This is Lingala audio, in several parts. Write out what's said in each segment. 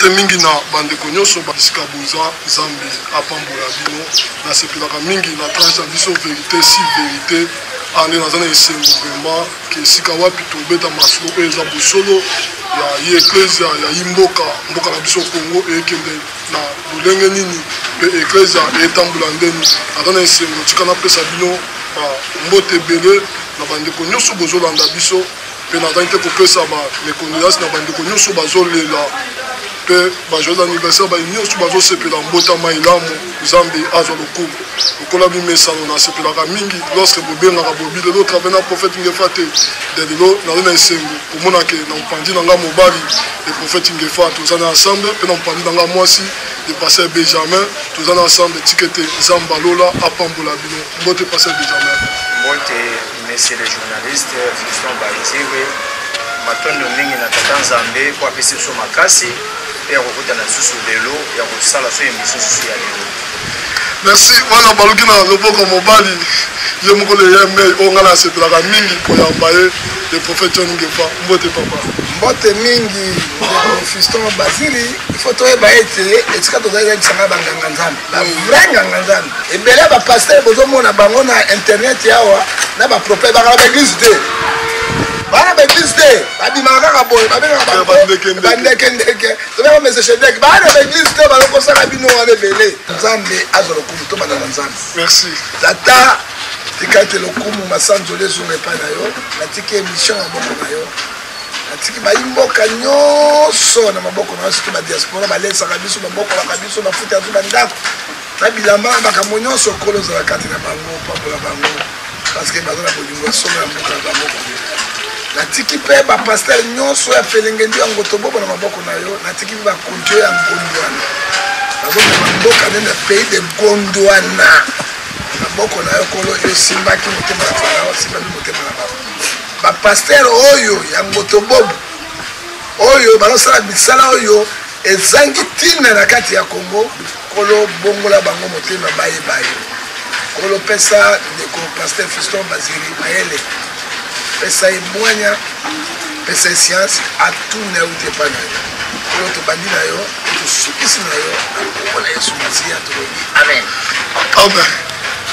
mbote mingi na bandeko nyonso bisika boza nzambe apambola bino nasepelaka mingi na tranche ya biso verité si verité ande naza na esengo vraiment ke esika wapi tobeta masolo oyo eza bosolo ya ye eklezia ya ye mboka mboka na biso congo eyekende Na lolenge nini mpe Eklezia etambola ndeni? Naza na esengo tika napesa bino ba mbote ebele na ba ndeko nyoso bozolanda biso mpe nazangi te kopesa ba mes condoleances na ba ndeko nyoso bazolela mpe ba joyeux anniversaire baye nyoso bazosepela mbotama elamu Nzambe azwa lokumu. lokola mimesano nasepelaka mingi lorsque bobengaka bobi lelo travaille na prophète ngefa te de lelo nazali na esengo komona ke na mopanzi na ngai mobali le prophète ngefa toza na ensemble mpe na mopanzi na ngai mwasi le pasteur benjamin toza na ensemble tike te nzambe alola apambola bino mbote pasteur benjamin mbote monsieur le journaliste fiston baiziwe matondo mingi na tata nzambe mpo apesi biso makasi mpe ya kokutana lisusu lelo ya kosala so emission susu ya lelo Merci wana baluki na loboko mobali ye moko le yembe oyo ngai nasepelaka mingi koyamba ye le prophète John Ngefa mbote papa mbote mingi fiston bazili ifo toyeba ete esika tozali ezalisanga banganga nzambe bavrai nganga nzambe ebele ya bapaster bozomona bango na internet yawa na baprophète bakala baeglise te bana baeglise te babimaka kaka boye babengaka bandekendeke tolaka mese shedek baana na eglise te balokosaka bino wana ebele nzambe azwa lokumu tobanda na nzambe merci tata tika ete lokumu masanzoli ezonga epai na yo natiki émission ya moko na yo atiki bayi mboka nyonso na maboko na yo soki badiaspora balesaka biso babokolaka biso bafuta biso bandako na bilamba na makambo nyonso nkolo ozala kati na bango pambola bango parceke baza na bolingo ya solo ya mboka na bango natiki mpe bapastere nyonso ya felengendi ya ngotobobo na maboko na yo natiki mpe bakonti oyo ya ngondwana bazomema mboka nde na pays de ngondwana maboko na yo kolo esimbaki motema na farao esimbaki motema na bango bapastere oyo ya ngotobobo oyo bazosala misala oyo ezangi ntina na kati ya kongo Nkolo bongola bango motema bayeba yo. Nkolo pesa ndeko Pasteur Fiston Baziri mayele, pesa ye mwanya, pesa ye sianse, atuna ye uti epai na yo. Nkolo tobandi na yo, tosukisi na yo, na nkombo na Yesu Masiya tolobi amen. Amen.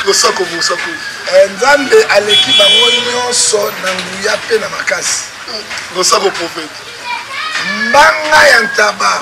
Losako mosako. Eh, Nzambe aleki bango nyonso na nguya mpe na makasi. Losako profete. Mbanga ya ntaba.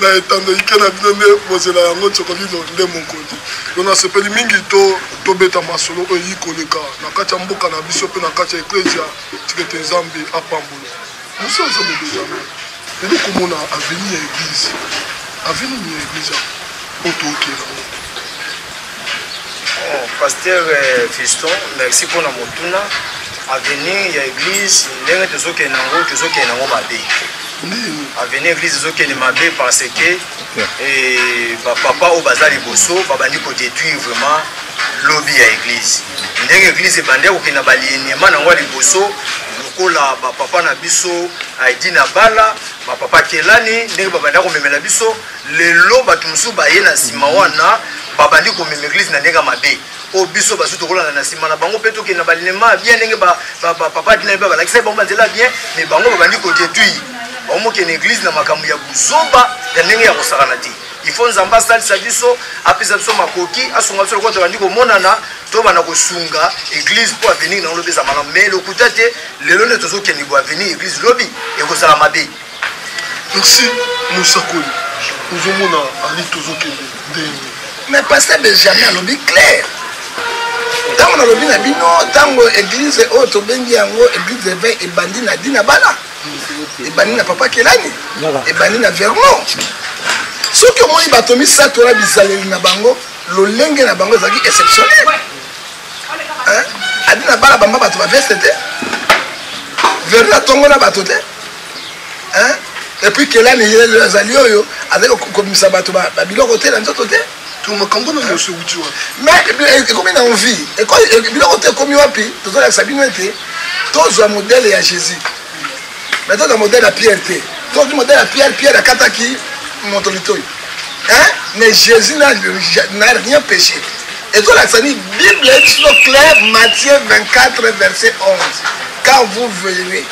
na etando ike na bino nde bozela yango cokolino nde mokonzi yo nasepeli mingi to tobeta masolo oyo eyi koleka na kati ya mboka na biso mpe na kati ya eklesia tikete nzambe apambola mosi aza mobezami elo komona aveni ya eglise aveni nini ya eglise mpo tookela Bon, pasteur eh, Fiston, merci mpo na motuna. Avenir ya église ndenge tozokende nango tozokende nango mabe. Avenir église ezokende mabe parce que eh, bapapa oyo baza liboso babandi kodétruire vraiment lobi ya église. Ndenge église ebandi akokende na balieniema nango ya liboso lokola bapapa na biso aidi na bala bapapa kelani ndenge babanda komemela biso Lelo batu mususu baye na sima wana babandi komema eglise na ndenge mabe oyo biso basusu tokolanda na nsima na bango mpe tokende na balema ya bien ndenge bapapa dina mpe balakisaki bango banzela ya bien mais bango babandi kodetruire bango mokende eglise na makambo ya buzoba ya ndenge ya kosakana te il faut nzambe asalisa biso apesa biso makoki asunga biso lokola tobandi komonana tobanda kosunga eglise mpo avenir na yango lobi eza malamu mais lokuta te lelo nde tozokende boavenir eglise lobi ekozala mabe merci mosakoli ozomona ali tozokende ndenge mais pasteur benjamin alobi claire ntango nalobi na bino ntango eglize oyo tobengi yango eglize eveil ebandi na dina bala ebandi na papa kelani ebandi na vernon soki omoni bato misato na bizaleli na bango lolenge na bango ezalaki exceptionnel adi na bala bamba bato baveste te vernon atongola bato te hein epuis kelani yelo azali oyo azali kobimisa bato babiloko te na nzoto te makambo na nyonso euti wapi mais ekomi na envie biloko te ekomi wapi tozolakisa bino ete tozwa modele ya jésus mais tozwa modele ya pierre te tozwi modele ya pierre pierre akataki moto litoi hein mais jésus n'a rien péché ezolakisa nini bible ebiso claire matthieu 24 verset 11 quand vous verrez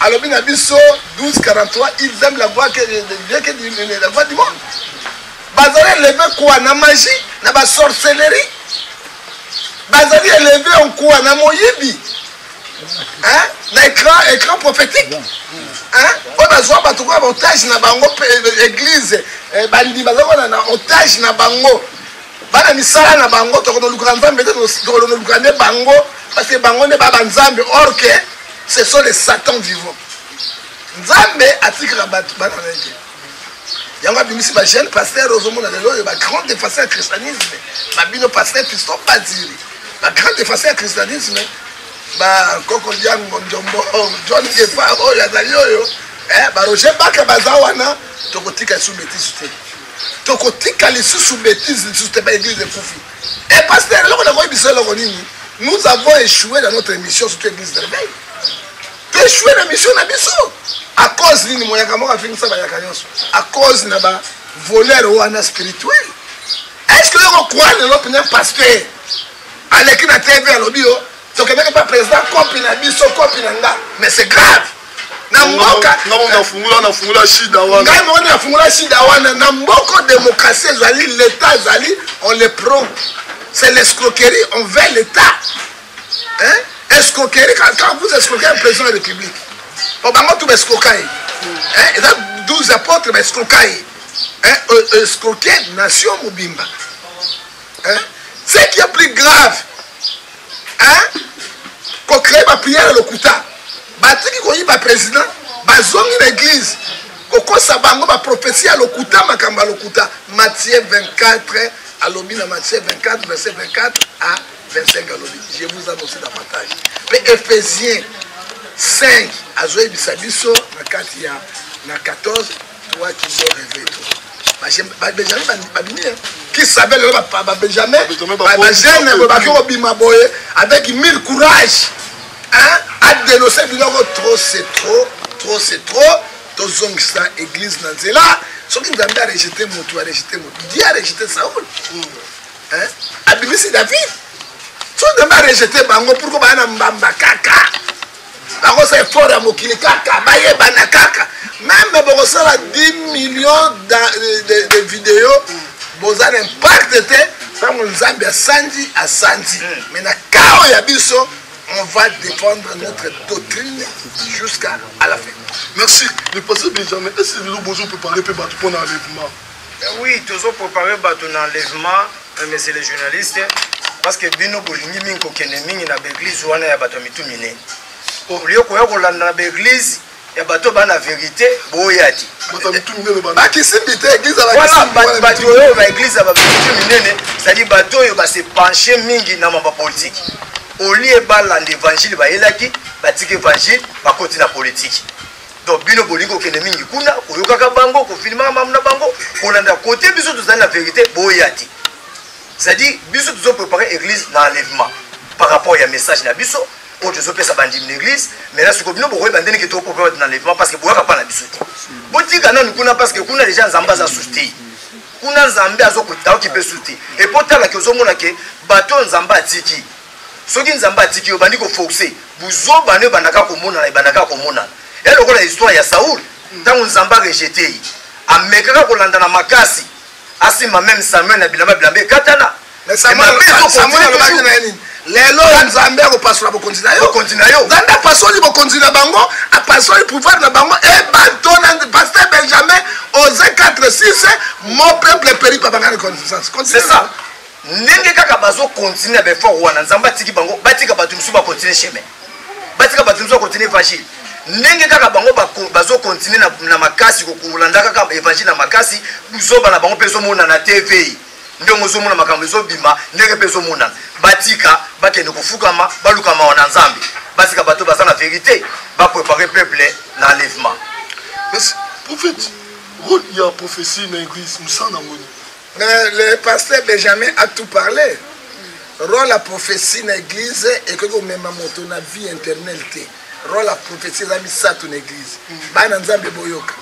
Alobi na biso 1243 ils aiment la voix que bien que la voix du monde. Bazali élevé quoi na magie, na ba sorcellerie. Bazali élevé en quoi na moyibi. Hein? Na écran écran prophétique. Hein? Po bazwa bato kwa otage na bango église eh, bandi bazakona na otage na bango. Bana misala na bango toko noluka nzambe te toko noluka ne bango parce que bango ne baba nzambe or que ce sont les satans vivants. Nzambe atikaka bato bana na ye yango abimisi ba jeune pasteur ozomona lelo oyo ba grand défenseur ya christianisme babino pasteur christophe badiri ba grand défenseur ya christianisme ba koko diango ndombo john gefa oyo azali oyo eh, ba roger baka baza wana tokotika esu betise te tokotika lisusu betise lisusu te baeglise ekufi e eh, paster eloko nakoyi biso eloko nini nous avons échoué dans notre émission surtout église de réveil toéchoué na mission na biso à cause nini moyaka moko afingisa bayaka nyonso à cause na ba voleur wana spirituel est ce que yo kokwa lelo mpenza paster aleki na tv alobi yo tokendaki pa president kopi na biso kopi na nga mais c'est grave na mboka nafungola nafungola shida wana ngai moko nafungola shida wana na mboka demokratie ezali leta ezali on le pro c'est l'escroquerie on veut l'état hein? escroquerie quand vous escroquez un président de la république po bango tu baescroka ye eza 12 apôtre baescroka ye escroquer nation mobimba ce qui est plus grave hein ko créer ba prière lokuta batiki koyiba président bazongi na église kokosa bango ba prophétie ya lokuta makambo ya lokuta Matthieu 24 alobi na Matthieu 24 verset 24 à 25 alobi je vous annonce davantage mpe Ephésiens 5 azoyebisa biso na kati ya na 14 Toi qui so rêver toi. Ba Benjamin ba bimi hein. Qui savait le ba ba Benjamin ba jeune ba ba ko bima boye avec mille courage. Hein? A dénoncer biloko trop c'est trop, trop c'est trop. tozongisa église na nzela soki nzambe arejete motu arejete motu di arejete saul abimisi david soki nzambe arejete bango pourko baya na mbamba kaka bakosa effort ya mokili kaka bayebana kaka meme bokosala 10 millions de, de, de video boza na impacte te ntango nzambe asanzi asanzi me na kao ya biso on va défendre notre doctrine jusqu'à la fin merci le passé benjamin esi lelo bozo préparé mpe bato mpo na enlèvement Oui tozo prepare bato na enlèvement mais monsieur le journaliste parce que bino bolingi mingi kokende mingi na baeglise wana ya bato ya mitu mine olie koya kolanda na baeglise ya bato ba na verité boya te bato oyo baeglise ya bamitu minene cetadi bato oyo base penche mingi na mamba politike olie balanda evangile bayelaki batiki evangile bakoti na politike donc bino bolingi kokende mingi kuna koyokaka bango kofilmaka mamu na bango kolanda kote biso tozali na verité boya te c'est-à-dire biso tozo prépare église na enlèvement par rapport ya message na biso oyo tozopesa bandimi na église mais na siko bino bokoyeba ndenge ke tokoprépare na enlèvement parce que boyaka mpa na biso te botika nanu kuna parce que kuna déjà nzambe aza susu te kuna nzambe azokota okipe su te epo otalaki ozomona ke bato oyo nzambe atiki soki nzambe atiki yo bandi koforce buzoba no ebandaka komonana ebandaka komonana ya lokola histoire ya saul ntango nzambe arejete ye amekaka kolanda na makasi asimba meme samuel na bilamba bilamba ekatana lelo nzambe akopasola bokonzi na yobokonzi na yo nzambe apasoli bokonzi na bango apasoli pouvoir na bango ebatona eh, paster benjamin oze 46 mon peuple peri babanga reconnaissance c'est ça ndenge kaka bazo continuer na befort wana nzambe atiki bango batika bato mosusu bacontinue chemin batika bato mosusu bacontinue évangile ndenge kaka bango bazo continue na, na makasi kokolanda kaka évangile na makasi buzoba na bango mpe ezomonana tv ndenge ozomona makambo ezobima ndenge mpe ezomonana batika bakende kofukama baluka mawa na nzambe batika bato baza na verité baprépare peuple na enlèvement prophète role ya prophétie na église mosala na ngoni Mais le pasteur Benjamin a tout parlé. Rôle la prophétie na église et que vous même moto na vie éternelle te. Rôle la prophétie la misa ton église. Ba na nzambe boyoka.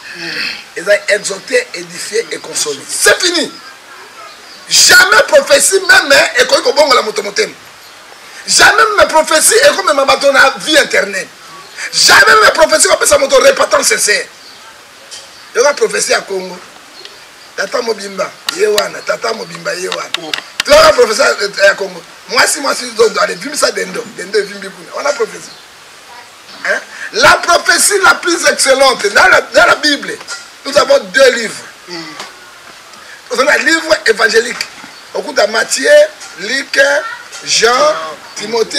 Ils ont exhorté, édifié et consolé. C'est fini. Jamais prophétie même hein, et que vous la moto motem. Jamais ma prophétie et comme ma bateau na vie éternelle. Jamais ma prophétie va passer moto répétant sincère. yoka profesi ya congo tata mobimba ye wana tata mobimba ye wana oh. toyoka profesi eh, ya congo mwasi mwasi zondo alevimisa dendo dendo evimbi kuna wana profesi la prophétie la plus excellente dans la, dans la bible nous avons deux livres mm. ozali na livre évangélique okuta matthieu like jean timothée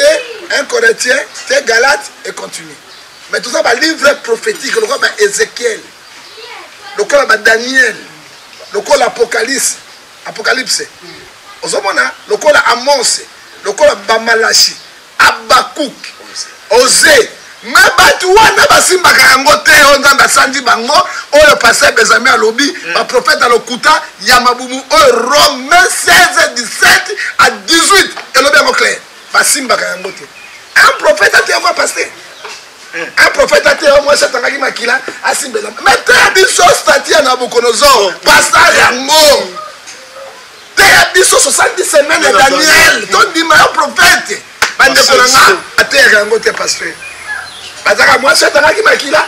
1 corinthiens te galate et continue mais toza ba livre prophétique lokola ba Ezekiel lokola ba Daniel lokola Apocalypse Apocalypse ozomona lokola Amos lokola ba Malachi Habakkuk Osée me bato wana basimbaka yango te oyo nzambe asandi bango oyo paster bezami alobi mm. baprofete ya lokuta ya mabumu oyo rome 16 17 a 18 elobi yango claire basimbaka yango te un prophète ateya mwa paster eh. un prophète ateya mwasi atangaki makila asimbela me teya biso stati ya nabukodonosor pastar yango teya biso 70 semaine ya daniel tondima yo prophète bandeko na nga ateyaka yango te paster azaka mwasi atangaki makila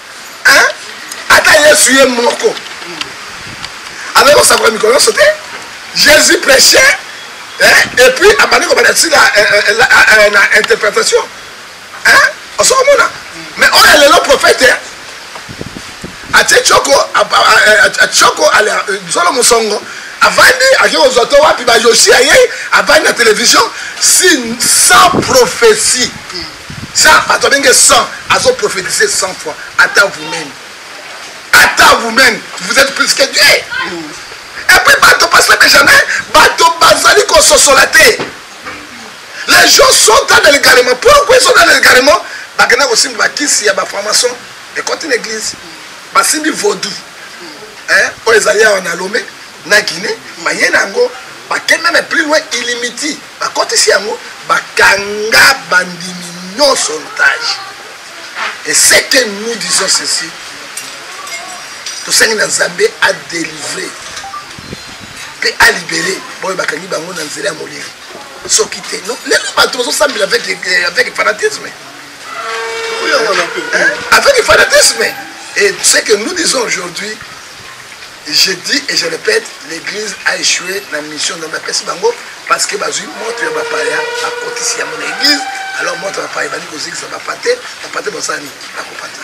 hein? ata yesu ye moko azali kosakola mikolo nyonso te jésus prêche eh? et puis abandi kobanda ti na interprétation oso komona mais oyo ya lelo prophète atie tioko tioko zolo mosongo avandi ake kozwa to wapi bayosi ya ye avandi na télévision si sans prophétie Sans bato abenge sans azo prophétiser 100 fois ata vous-même ata vous-même vous êtes plus que Dieu et puis bato pasteur Benjamin bato bazali kososola te les gens sont dans l'égarement pourquoi ils sont dans l'égarement bakenda kosimba bakisi ya bafranc-maçon ekoti na église basimbi vaudou oyo ezali awa na lome na guinée maye na yango bake meme plus loin ilimiti bakotisi yango bakanga bandimi nyonso otage et ce que nous disons ceci tosengi na nzambe adelivre mpe alibere baoyo bakangi bango na nzela ya molili soki te lelo bato bazosambela avec fanatisme avec fanatisme et ce que nous disons aujourd'hui Je dis et je répète, l'église a échoué na mission dans ma pèse bango parce que bazui montre ya bapaya bakotisi yango na église alors montre ya bapaya bandi kozikisa bapate bapate basani bakopata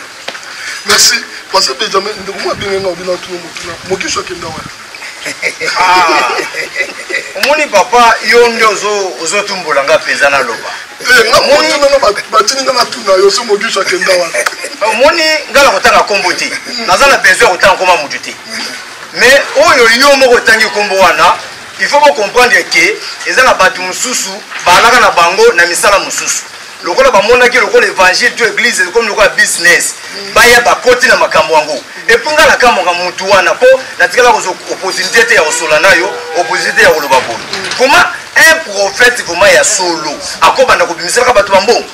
merci parce que benjamin ndeko mwa benge nga obina tuna mokina mokisi akenda wana ah. omoni papa yo nde ozotumbola nga mpenza naloba omoni ngai nakotanga nkombo te naza na besoin ya kotanga nkoma motu te mais oyo yo moko otangi nkombo wana il faut bocomprendre ke eza na bato mosusu baalaka na bango na misala mosusu lokola bamonaki lokola évangile to église ekomi lokola business baya bakoti na makambo yango epuis ngai nakamwaka motu wana mpo natikala kozwa opportunité te ya kosola nayo opportunité ya koloba boye koma un prophète vraiment ya solo akobanda kobimiselaka bato bambongo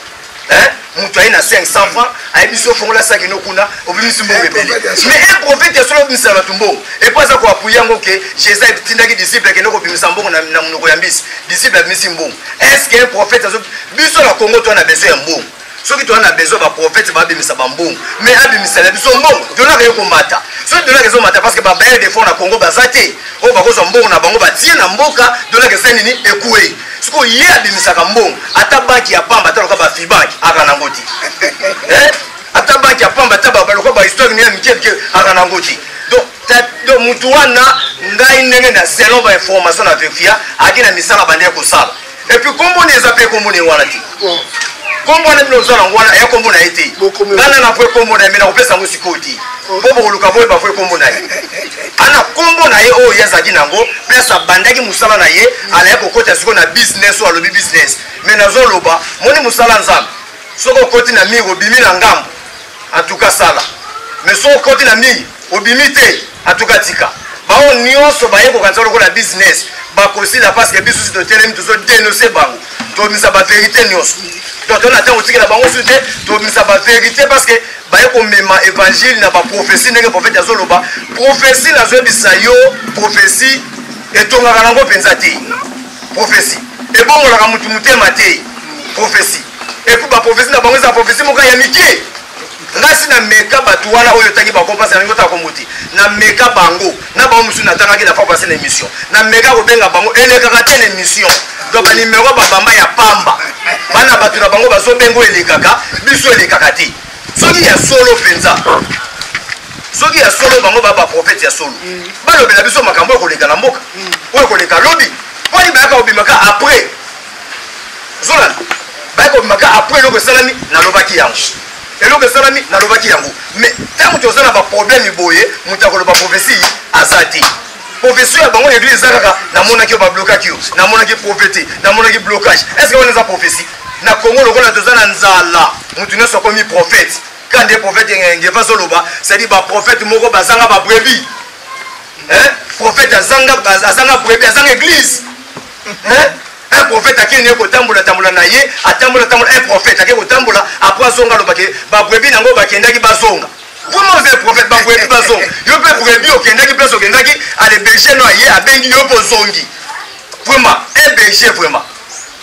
moto aye na 500 franc ayebi so fongola saki no kuna obimisi mbongo ebele mais un prophète ya solo obimisa bato mbongo epo aza koapuye yango ke jésus atindaki disciple akende kobimisa mbongo na monoko ya mbisi disciple abimisi mbongo est ce que un prophète biso na congo to na besoin ya mbongo soki toza na besoin baprofete babimisa bambongo mais abimisela biso mbongo dolare ekomata soki dolare ezomata parce que babayere de fond na congo baza te oyo bakozwa mbongo na bango batie na mboka dolare eza nini ekwei sikoyo ye abimisaka mbongo ata banki ya pamba ata loka bafibanki aka nango te eh? ata banki ya pamba ata loka bahistoire nini ya mike mike aka nango te donc motu wana ngai ndenge na selon bainformation na vefia ake na misala bande ya kosala epuis kombo ne eza mpe kombo ne wana te oh. kombo wana bino oza nango wana ya kombo na ye te ngana na mpo ekombo na ye me nakopesa yango sikoyo te oh. mpo bokoluka boyeba mpo ekombo na ye ana kombo na ye oyo ye azalaki nango place abandaki mosala na ye alaki kokota sikoyo na business oyo alobi business me nazoloba moni mosala nzambe soki okoti na mire obimi na ngambo En tout cas sala mais soki okoti na mingi obimi te en tout cas tika bango nyonso baye kokanisa lokola business bakosila parce que biso si totelemi tozo denonce bango tobimisa baverité nyonso donc tona ntango otikela bango su te tobimisa baverité parce que baye komema évangile na baprofesi ndenge profete azoloba profesi nazoyebisa yo profesi etongaka nango mpenza te profesi ebongolaka motu motema te profesi epuis baprofesi na bango eza profesi moko ya mike ngasi na meka bato wana oyo otangi bakompasi nalingi otala komuti na meka bango na bango mosusu natangaki na fapasi na émission na meka kobenga bango elekaka te na émission donc banimero babamba ya pamba bana bato na bango bazobenga oyo elekaka biso elekaka te soki ya solo mpenza soki ya solo bango baa baprofete ya solo mm. balobela biso makambo oyo ekoleka na mboka mm. oyo ekoleka lobi mpo libayaka obimaka après ozolanda baye kobima ka apres eloko esalami nalobaki yango eloko esalami nalobaki yango mais ntango toza na baproblème boye moto akoloba prophesie aza te prophesie ya bango eglise eza kaka namonaki yo bablokaki yo namonaki prophete namonaki blocage est ce que wana eza prophesie na congo lokola toza na nzala moto nyonso akomi prophète ka nde prophète ngengeva azoloba cestadi baprophète moko bazanga babrebi prophète azanga brebi azanga eglise Hein? Un prophète à qui il y a kotambola tambola na ye, atambola tambola un prophète à qui kotambola après zonga lobake ba brebis nango ba kendaki ba zonga. Vraiment vous êtes prophète ba brebis ba zonga. Yo pe brebis okendaki place okendaki à le berger no ye abengi yo po zongi. Vraiment un berger vraiment.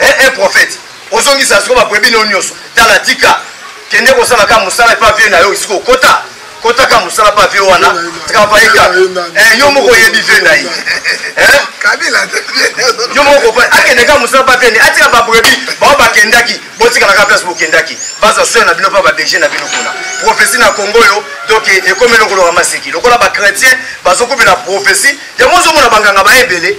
Un, un prophète. ozongisa siko bakuebi no nyonso tala tika kende kosala kaka mosala epa vie na yo esika okota kotaka mosala pa vie wana travaille kaka eh, yo moko oyebi vie na ye eh? yo moko kopani akende kaka mosala pa vie atika babrebi bao bakendaki botikala kaka place bokendaki baza soya na bino mpa baberge na bino kuna prophesie na congo oyo donc eh, ekomi elokoloka maseki lokola bachrétien bazokobela prophesie yango ozomona banganga baebele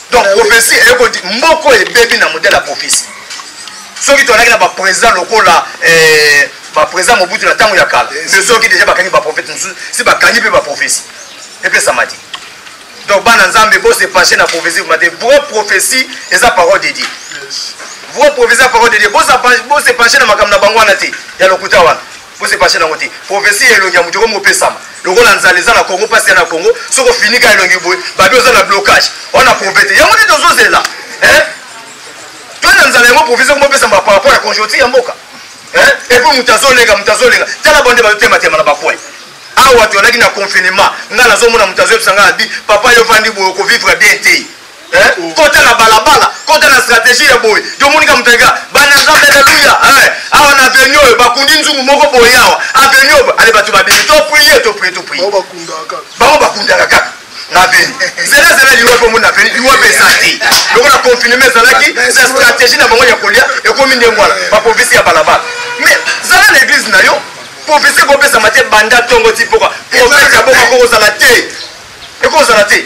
donc ah prophetie eye kodi mboko ebebi na modele ya prophetie soki tozalaki na baprésident lokola eh, baprésident mobutu na ntango ya kala mais soki déjà bakangi baprofete mosusu si bakangi mpe baprophetie epesama te donc bana nzambe bosepanche na prophetie mate vrai prophetie eza parole de dieu vrai prophetie eza parole de dieu bosepanche na makambo na bango wana te ya lokuta wana Vous epashe nango te prophetie ya elongi ya moto ekomi kopesama lokola nzala eza na congo mpasi ya na congo soki ofinika elongi boye babi oza na blocage wana prophete yango nde tozozela toye na nzala yango prophetie ekomi kopesama par rapport ya conjoncture ya mboka epuis moto azolenga moto azolenga tala bande bazotematema na bakwai awa toyalaki na confinement ngai nazomona moto azoyebisa ngai abi papa yo vandi boye okovivre bien te Eh, kota na balabala kota na stratégie ya boye yo monika muteka bana nzambe aleluya eh, awa na aveni oyo bakundi nzungu moko boye awa aveni oyo ale bato babeli to prie to prie to prie bango bakundaka kaka na aveni zela zela liwa mpe omoni na aveni liwa mpe eza te lokola confinement ezalaki za stratégie na bango ya kolia ekomi ndenge wana bapovisi ya balabala mais zala na eglise na yo profesi ekopesama te banda ntongo ti mpoka profesi ya bongo akokozala te ekozala te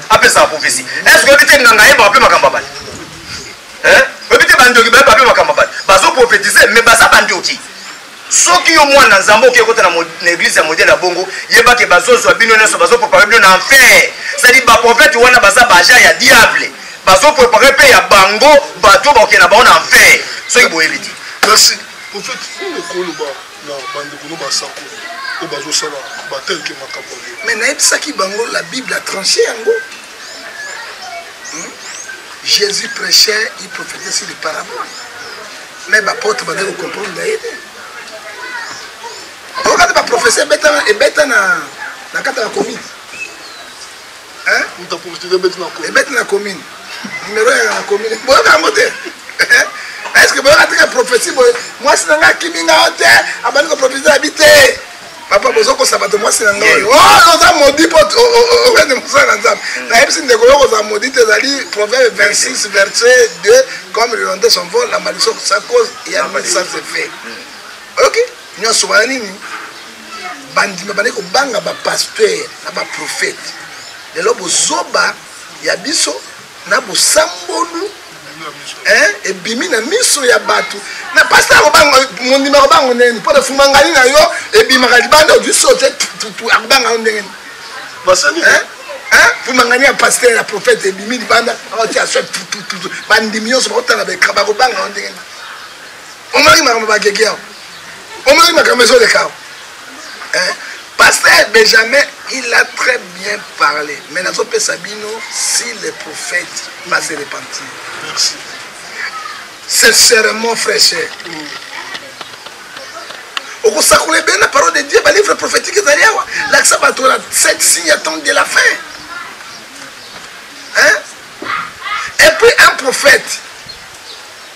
apesaka prophesie est ce que oyebi te nganga ayebaka mpe makambo ya bato oyebi te bandoki bayebaka mpe makambo ya bato bazoprofetize me baza bandoki soki yo mwana nzambe okoki kota na eglise ya modele ya bongo yeba ke bazozwa bino nyonso bazoprepare bino na enfer cetadi baprofete wana baza baja ya diable bazoprepare mpe ya bango bato bakokenda bango na enfer soki boyebi te na bandeko no basakoli oyo bazosala batelke makambo yango me nayebisaki bango la bible atranche yango hmm? jésus prêchait il prophétisait sur les paraboles me baporte bande kocomprendre ye te okokata baprofesseur ebeta na kati ya bakomite Hein? Mutu aprofitisaki ebeti na commune. Ebeti na commune. Numero ya na commune. Boyoka yango te. Est-ce que boyoka te prophétie boye? Mwasi na ngai akimi ngai ote, abandi ko prophétie na bi te. Papa bozo kosa bato mwasi na ngai. Oh, oza maudit po okende mosala na Nzambe. Nayebisi ndeko yo kozala maudit ezali proverbe 26 verset 2 comme l'irlandais son vol la malédiction sa cause il y a une sens effet. Okay? nyonso baya nini bandima bande kobanga bapasteur na baprofete lelo bozoba ya biso na bosambolu ebimi na miso ya bato na pasteur akobanga mondima akobanga ndenge mpo na fumangani na yo ebimaka libanda ozwi sote akobanga yo ndenge fumangani ya pasteur ya profete ebimi libanda aotia so bandimi nyonso bakotala bakobanga yo ndenge omaki makambo bakeki awa omaki makambo ezoleka awa eh, pasteur benjamin il a très bien parlé mais nazopesa bino si le prophète va se repentir merci sincèrement fraîcheur okosakola ebele na parole de dieu balivre prophétique ezali awa lakisa bato na 7 signe attente de la fin hein? et puis un prophète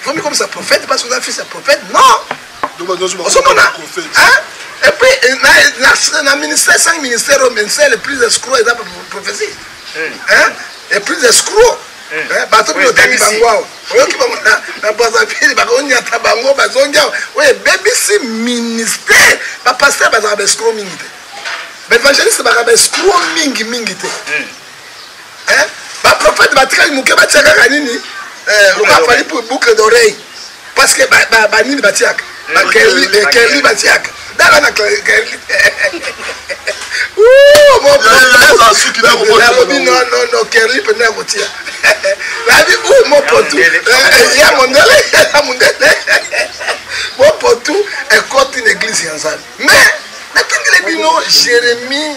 Faut comme ça prophète parce que vous avez fait sa prophète. Non. Ozomona. Hein? Et puis, dans le ministère, 5 ministères au ministère, le plus escrocs, ils ont prophétie. Hein? Et plus escrocs. bato biyotaki bango awa oyoki bango na brazzaville bakonyata bango bazongi awa oyo ebebisi ministère bapaster bazalaka baescro mingi te baevangeliste bakaka baescro mingi mingi te eh, ba prophète ba tikali muke ba tiaka ka nini eh loka fali pour boucle d'oreille parce que ba ba, ba nini ba tiaka mm, ba Kelly et eh, Kelly ba tiaka dala na Kelly Ouh mon prophète alobi non non non Kelly pende ya kotia nabi ouh mon potu eh, ya mondele ya mondele mon potu ekoti na église ya nzambe mais natindele bino Jérémie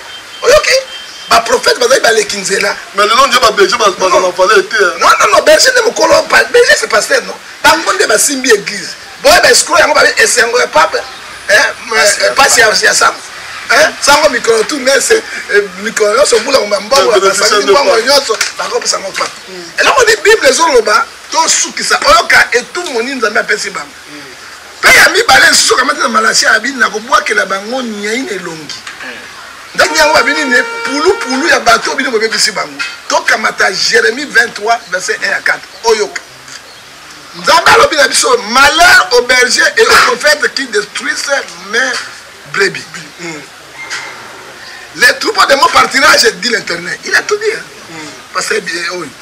oyoki baprofete bazali baleki nzela mais lelo nde baberge baza na valeur te non non non berge nde mokolo berge c'est pasteur non bango nde basimbi église boye baescro yango babe esengo ya pape mpasi ya sango sango mikolo tu nese eh, mikolo nyonso mbula komba mbongo basangisi mbongo nyonso bakopesa ngo pape eloko nde bible ezoloba tosukisa oyoka etumu nini nzambe apesi bango mpe ya mibale lisusu kamati na malasia ya bini na kobwakela bango nyai na elongi ndenge yango babini ne pulupulu ya bato bino bobebisi bango tokamata jérémie 23 verset 1 ya 4 oyoka nzambe alobi na biso malheur au berger et au prophète qui détruisent mes brebis mm. les troupeaux de mon partirage dit l'internet il a tout dit hein? mm. parce que oyo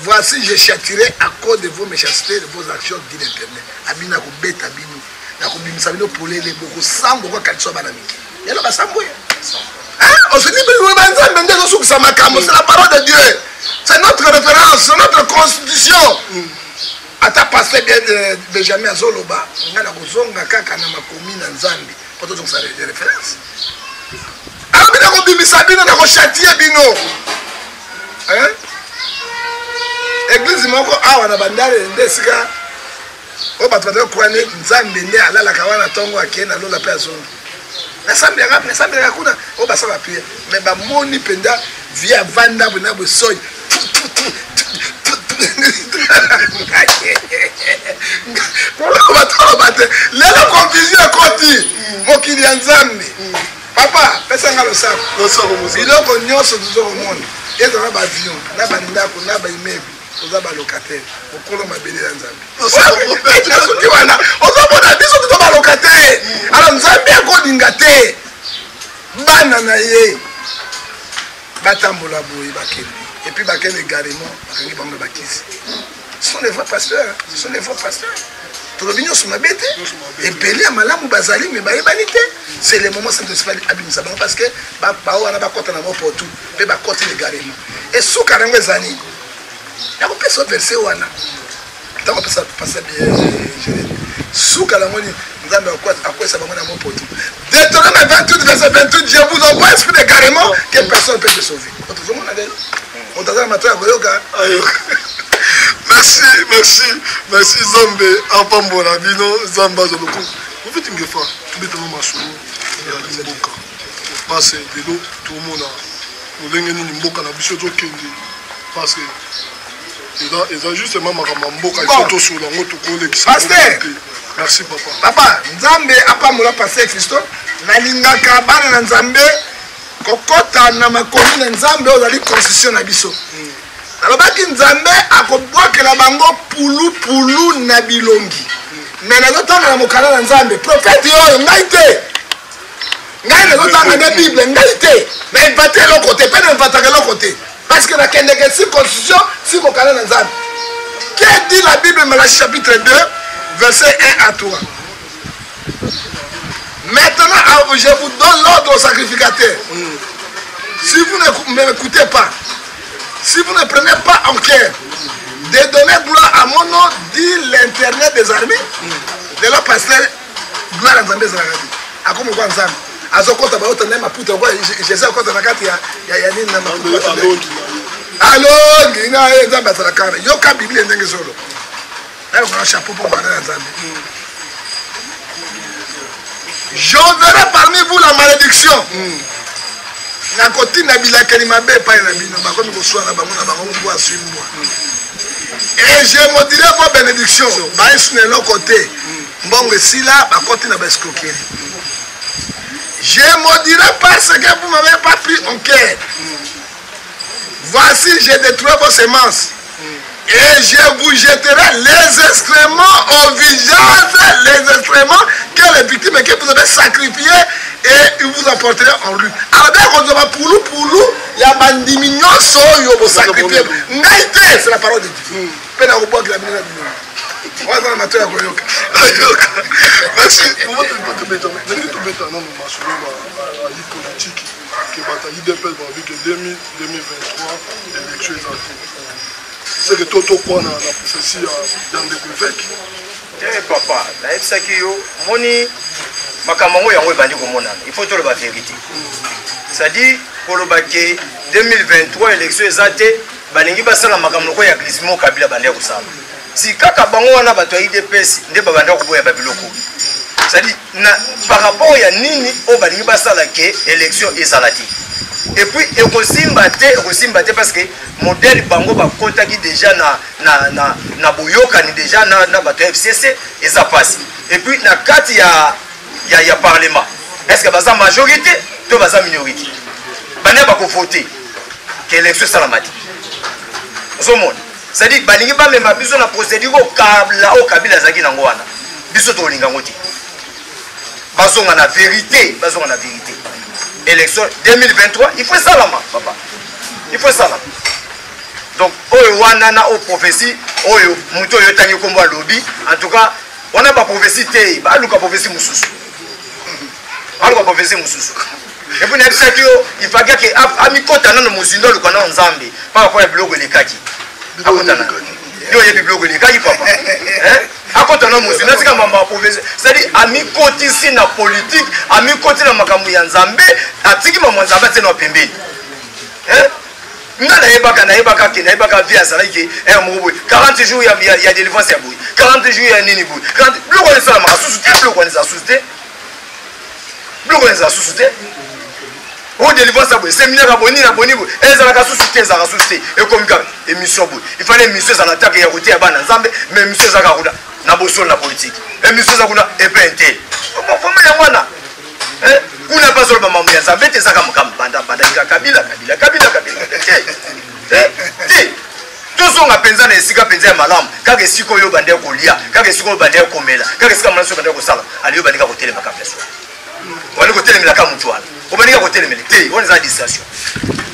Voici, je châtirai à cause de vos méchancetés, de vos actions dit l'Éternel. Abi na kobeta bino, na kobimisa bino polele, bokosambwa kwa kaliso bana mike. Yala basambwe. Ah, osoni bilowe ba nzambe nde ezosukisa makambo, c'est la parole de Dieu. C'est notre référence, c'est notre constitution. Mm. Ata pasteur euh, Benjamin azoloba, nga na kozonga kaka na makomi na nzambe, po tozongisa référence. Abi na kobimisa bino, na kochatie bino. hein? eglise moko awa na bandale nde esika oyo bato bazali kokwane nzambe nde alalaka wana ntongo akei na lola mpe azongi nasambelaka mpe nasambelaka kuna oyo basala priere me bamoni mpenza vie avanda mpena bosoi batoloba te lelo confusion ekoti mokili ya nzambe Papa pesa nga losako. Losako musa. Biloko nyonso tozo komona eza na ba avion na ba ndako na ba immeuble toza ba locataire mokolo mabele ya Nzambe. Losako wana ozo mona biso toza ba locataire. Alors Nzambe akolinga te bana na ye batambola boye bakende epuis bakende egarement bakangi bango bakisi Ce sont des vrais pasteurs, ce sont des vrais pasteurs. tolobi nyonso mabe te ebele ya malamu bazali me bayebani te c'est le moment saint esprit abimisa bango parce que bao wana bakɔta na mopotu mpe bakɔti legalement esuka yango ezali nakopesa verse wana ntango apesa pasa jeremi suka yango nini nzambe akwesa bango na mopotu deuteronome 28 verset 28 je vous envoie esprit d'égarement que personne peut se sauver otozomonadelo moto aza na mato ya koyoka merci merci merci zambe apambola bino zambe aza lokumu mofiti ngefa tobetama masolo ya mboka pase lelo tomona lolenge nini mboka na biso tokende pase eza justement makambo ya mboka iso tosolo yango tokolekisa merci papa papa nzambe apambola pase fisto nalingaka bana na nzambe kokota na makomi na nzambe oyo ozali constitution na biso alobaki nzambe akobwakela bango pulupulu na bilongi me nazotanga na mokanda na nzambe profete oyo ngai te ngai nazotanga nde bible ngai te na impate eloko te mpe na impataka eloko te parce que nakendeke si constitution si mokanda na nzambe que dit la bible malachie chapitre 2 verset 1 à 3 Maintenant, ah, je vous donne l'ordre au sacrificateur. Si vous ne m'écoutez pas, si vous ne prenez pas en cœur de donner gloire à mon nom, dit l'internet des armées, de la pasteur, gloire à Nzambé Zalagadi. À comment quoi Nzambé azokota baota naye maputa yango jesus akota na kati ya nini na maputa alongi na ye nzambe azalaka wana yoka biblia ndenge ezoloba Nayo kala chapeau pour Maria Nzambe. J'enverrai parmi vous la malédiction. Mm. nakotinda bilakeli mabe epai na bino bakomi koswana bango na bango mbwa aswi mbwa e je modire vo benediction baesu na eloko te mbongo esila bakoti na baescroquerie je modire parce que vous m'avez pas pris en cœur Voici, j'ai des très beaux semences. Et je vous jeterai les excréments au visage, les excréments que les victimes que vous avez sacrifiés et vous apporterez en rue. Alors, dès qu'on va poulou poulou, il y a bandimi nyonso oyo vous sacrifiez. Ngai te, c'est la parole de Dieu. Mpe na kobwaki la bino na bino. Waza na mato ya koyoka. Nayoka. Merci. Comment tu peux te mettre? Tu peux te mettre non, non, masolo ba ba politique. que bato ya udps balobi ke 2023 élection eza te seke to tokwana na prophetie ya ndeko eveke te eh, papa nayebisaki yo moni makambo yango yango ebandi komonana il faut toloba vérité c'est-à-dire koloba ke 2023 élection eza te balingi basala makambo lokola ya glisimo kabila bandi ya kosala si kaka bango wana bato ya idps nde babanda koboya babiloko c'est-à-dire na par rapport ya nini oyo balingi basala ke élection ezala te epuis ekosimba te ekosimba te parce que modèle bango bakotaki déjà na, na, na, na boyokani déjà na, na bato ya fcc eza mpasi epuis na kati ya, ya, ya parlement est ce que baza majorité to baza minorité bane bakovote ke élection esalama te ozomona cestadire balingi bamema biso na procédure oyo kabla oyo kabila azalaki nango wana biso tokolinga yango te bazonga na verité bazonga na verité élection 2023 il faut esalama papa il faut esalama donc oyo wana na oyo prophétie oyo moto oyo etangi nkombo alobi en tout cas wana baprophétie te baluka prophétie mosusu aluka profesi mosusu epuis nayebisaki yo ifakiaki amikota nano mozindo aluka nao nzambe mpaka mpo ya biloko elekaki akotana yo oyebi biloko elekaki papa akota na mosi natika mambo ya profesi cetadi amikotisi na politike amikoti na makambo ya nzambe atiki mambo ya nzambe atie na pembeni nga nayebaka nayebaka ke nayebaka vie azalaki ke moko boye 40 jours ya délivrance ya boye 40 jours ya nini boye biloko wana esalamaka susu te biloko wana eza susu te biloko wana ezala susu te o délivrance ya boye seminaire ya boye nini ya boye nini ezalaka susu te ezalaka susu te ekomi kaka émission boye ifale émission ezala take ya koteya bana nzambe mais émission ezalaka kuna na bosolo na politike émission eza kuna epe te bafama yango wana eh, kuna mpe azoloba mamu ya nzambe te ezaka makambo banda banda kabila kabila kabila kabila te te tozonga mpenza na esika mpenza ya malamu kaka esika oyo obanda ya kolia kaka esika oyo obanda ya komela kaka esika malamu obanda ya kosala ali obandi ka kotelema kaka biso obandi kotelemela kaka motu wana obandi ka kotelemela te wana eza distraction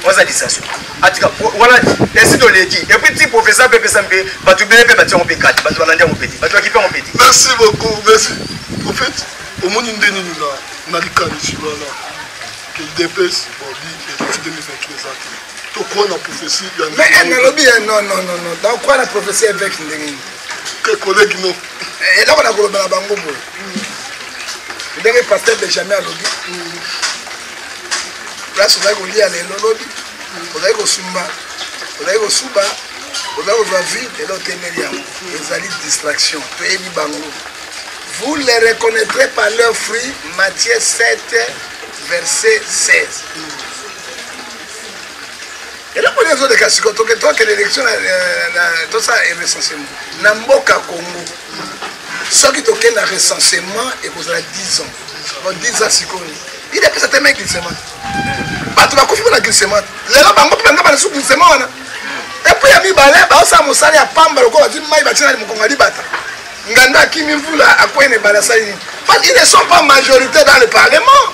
wana eza distraction atika wana esi toleki epuis ti professeur mpe epesa mpe bato bele mpe bati yango mpe kati bato balandi yango mpe te bato bakipi yango mpe te merci beaucoup merci prophète omoni nde nini na likanisi wana udps bobi eleki 2023 eza te tokwa na prophetie ya mais eh, nalobi eh, non non non non donc kwa na prophetie avec ndenge nini ke collègue no eh, eloko na koloba na bango boye ndenge pasteur benjamin alobi place ozali kolia lelo lobi ozali kosumba ozali kosuba ozali kozwa vie lelo otemeli yango ezali distraction toyebi bango Vous les reconnaîtrez par leurs fruits, Matthieu 7, verset 16. eloko nini ezoleka sikoyo toke tokende élection tosala recensement na mboka congo soki tokenda recensement ekozala 10 ans bon 10 ans sikoyo il epesa te me glissement bato bakufi mpona glissement lelo bango mpe banga banasu glissement wana epuis ya mibale baosala mosala ya pamba lokola bazwi mai batinali mokongo ya libata Nganda akimi mvula akwei na ebale asali nini? Parce qu'ils ne sont pas majorité dans le parlement.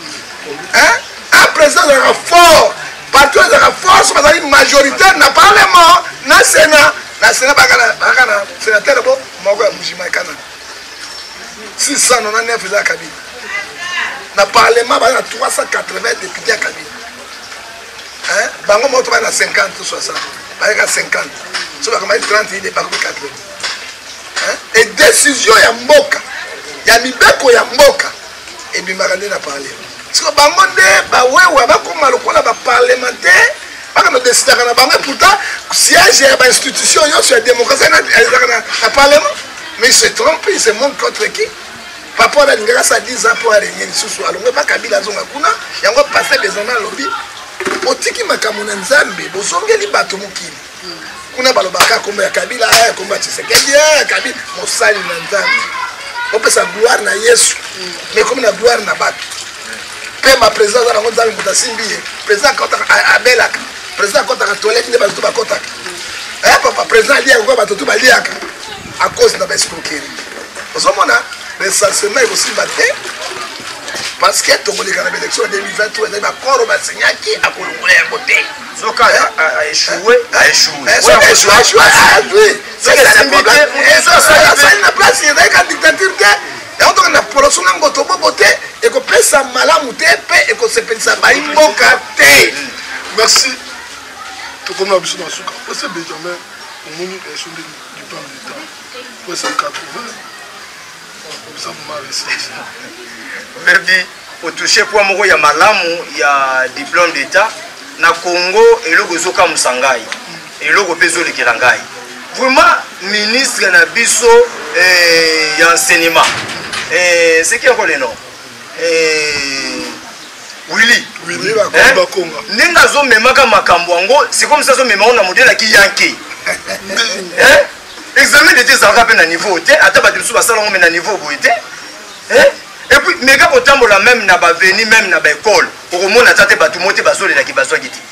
Hein? Un président azalaka fort. Parti oyo ezalaka fort soki bazali majoritaire na parlement na sénat. Na sénat bakaka na sénateur bo moko ya mujima ekana. 699 eza ya Kabila. Na parlement bazali na 380 député ya Kabila. hein bango moto ba na 50 to 60 ba ka 50 so ba kamati 30 ide ba ko 80 hein et décision ya mboka ya mibeko ya mboka ebimaka nde na parlement siko bango nde bawewa bakoma lokola baparlementaire baka na desidaka na bango pourtant siège ya bainstitution nyonso ya démocratie ezalaka na parlement mais il se trompe il se montre contre qui Papoire alingaka sa 10 ans po arenye lisusu alongue ba kabila azonga kuna yango pasteur bezana alobi otiki makambo na nzambe bozongeli bato mokili kuna balobaka kombo ya kabila aya eh, kombo ya tshisekedi aya eh, kabila mosali na nzambe opesa gloire na yesu mekomi na gloire na bato mpe baprésident aza nango nzambe moto asimbi ye président akotaka abelaka président akotaka toilette nde bato to bakotaka eh, papa président aliaka kwa bato to baliaka à cause na ba escroquerie ozomona recensement ekosimba te parce que tokoleka na baélection ya 2023 ezali bakoro basignaki akolongola yango te soki aéchoue ezali na place ezali ka dictature te yango toka na poloso na ngoto bobo te ekopesa malamu te mpe ekosepelisa bayi mboka te merci tokomi na biso na suka ose benjamin omoni esungi Dupont du temps. Après ça, 80. Comme ça, mon mari c'est Verdi, otouche poa moko ya malamu ya diplôme d'état na congo eloko ezokamwisa ngai mm. eloko mpe ezolekela ngai vraiment ministre na biso eh, ya enseignement eh, seki yango leno eh, wili ndenge azomemaka makambo yango sikoyo misi azomema yango na modele yaki yanke examen dete ezalaka mpe na niveau te ata bato mosusu basala yango me na niveau boye te epuis meka kotambola meme na baveni meme na baekole okomona ata te bato mo te bazolelaki bazwaki te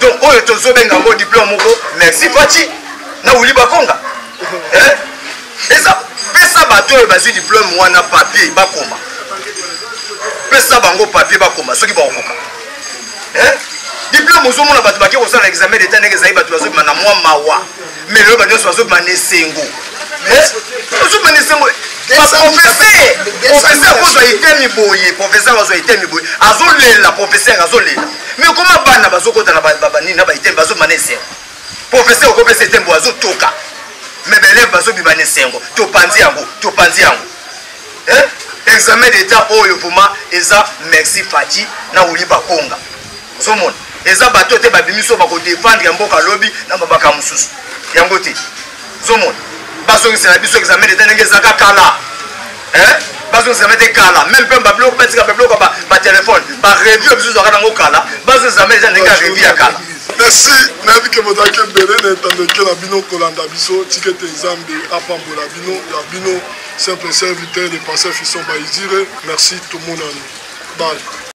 donc oyo tozobenga yango diplome moko merci paci na wili bakonga eh? eza pesa bato oyo bazwi diplome wana papier bakoma pesa bango papier bakoma soki bakokoka eh? diplome ozomona bato bake kosala examen d'etat ndenge ezali bato bazobima na mwa mawa mais loba nyonso bazobima na esengo bazobima na esengo baprofesere profesere akozwa itemi boye profesere azwa itemi boye azolela profesere azolela mais koma bana bazokota na banini na baitemi bazobima na esengo profesere okopesa itemi boye azotoka mais baeleve bazobima na esengo topanzi yango topanzi yango examen d'etat oyo vraimen eza merci fati na oliba konga ozomona eza bato te babimi so bakodefendre ya mboka lobi na mabaka mosusu yango te ozomona bazongisela biso examen leta ndenge ezaka kala bazongisela mete kala meme mpe babiloko batika babiloko batelefone barevio biso ezwaka nango kala bazongisela mete eza ndenge ya revi ya kala merci nayebi ke bozalaki ebele na etandeke na bino kolanda biso tike te nzambe apambola bino ya bino simple serviteur de pasteur fison baizire merci tomonani bale